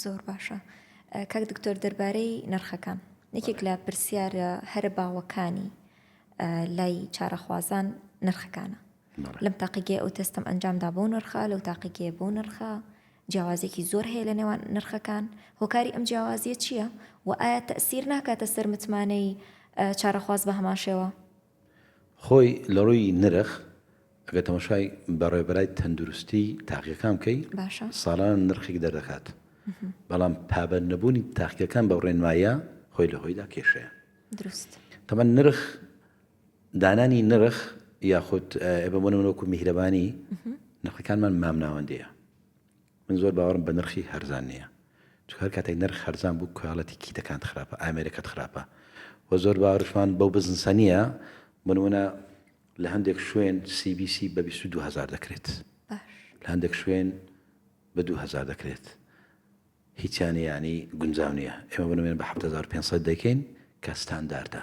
زۆر باشە کاک دکتۆر دەربارەی نرخەکان یەکێک لە پرسیارە هەرە باوەکانی لای چارەخوازان نرخەکانە لەم تاقیگەی ئەو تەستم ئەنجامدا بۆ نرخە لەو تاقیگەیە بۆ نرخە جیاوازێکی زۆر هەیە لە نێوان نرخەکان هۆکاری ئەم جیاوازیە چییە و ئایا تەسیر ناکاتە سەر متمانەی چارەخواز بە هەماشەوە خۆی لە ڕووی نرخ ئەگەر تەماشای بەڕێوبەرای تەندروستی تاقیەکان بکەی ساڵانە نرخێک دەردەکات بەڵام پابەر نەبوونی تاقیەکان بە ڕێنمایە خۆی لە هۆیدا کێشەیە دروست تەمە نرخ دانانی نرخ یاخود ئێبەمەوەکو میهرەبانی نرخەکانمان مامناوەندەیە من زۆر باوەڕم بە نرخی هەرزان نیە چونکە هەر کاتێک نرخ هەرزان بوو کوالێتی کیتەکانت خراپە ئامێرەکەت خراپە وە زۆر باوەڕشمان بەو بزنسە نیە بۆ نمونە لە هەندێک شوێن سی بی سی بە بیست و دوو هەزار دەکرێت لە هەندێک شوێن بە دوو هەزار دەکرێت هیچیان یانی گونجاو نیە ئێمە بنوێن بە حەفت هەزار و پێنج سەد دەکەین کە ستانداردە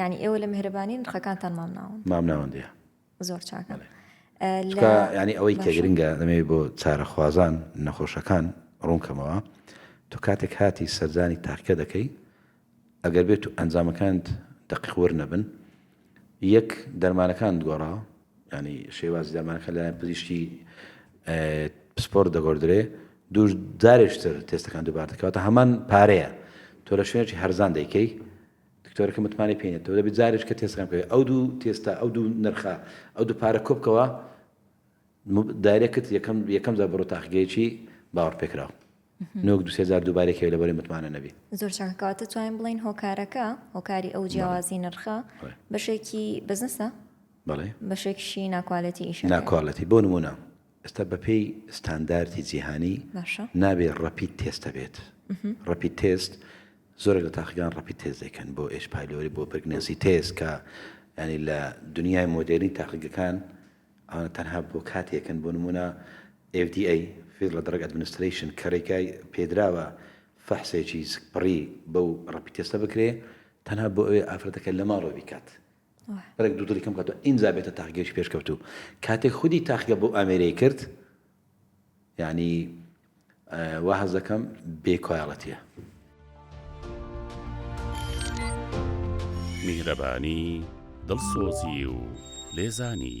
ینی ئێوە لە مهرەبانی نرخەکانتان مامناون مامناوەندە زۆر چاکە ینی ئەوەی کەگرنگە دەمەوێت بۆ چارەخوازان نەخۆشەکان ڕوونکەمەوە تو کاتێک هاتی سەردانی تاکە دەکەی ئەگەر بێت و ئەنجامەکانت دەقیقور نەبن یەک، دەرمانەکانت گۆڕا؟ یانی شێوازی دەرمانەکان لەلایەن پزیشکی پسپۆڕت دەگۆردرێ، دوو، جارێکتر تێستەکان دووبارە دەکەی، واتە هەمان پارەیە تۆ لە شوێنێکی هەرزان دەیکەی، دکتۆرەکە متمانەی پێ نیە، تۆ دەبێ جارێکتر تێستەکان بکەی، ئەو دوو تێستە، ئەو دوو نرخە، ئەو دوو پارە کۆبکەوە، دایرێکت یەکەم یەکەم جار بڕۆ تاقیگەیەکی باوەڕپێکراو. نۆک دوو سێ جار دووبارەی کەوێ لەبەرەی متمانە نەبی. زۆر چاکە کەواتە توانین بڵێین هۆکارەکە هۆکاری ئەو جیاوازی نرخە بەشێکی بزنسە بەڵێ بەشێکشی ناکوالێتی ئیش ناکوالەتی بۆ نمونە ئێستا بەپێی ستانداردی جیهانی نابێ ڕەپیت تێستە بێت ڕەپیت تێست زۆرێک لە تاقیگان ڕەپیت تێز دەکەن بۆ ئێش پالۆری بۆ برگنەزی تێز کە ینی لە دنیای مۆدێری تاقیگەکان ئەوانە تەنها بۆ کاتێکن، بۆ نموونە FDA، Federal Drug Administration، کەرێکە پێدراوە فەحسێکی سکپڕی بەو ڕەپی تێستە بکرێ تەنها بۆ ئەوێ ئافرەتەکە لە ماڵەوە بیکات بەرەک دوو دڵی کەم کاتەوە ئینجا بێتە تاقیگەیش پێشکەوتوو کاتێک خودی تاقیگە بۆ ئامێرەی کرد یانی وا هەست دەکەم بێ کوالێتیە. میهرەبانی، دڵسۆزی و لێزانی.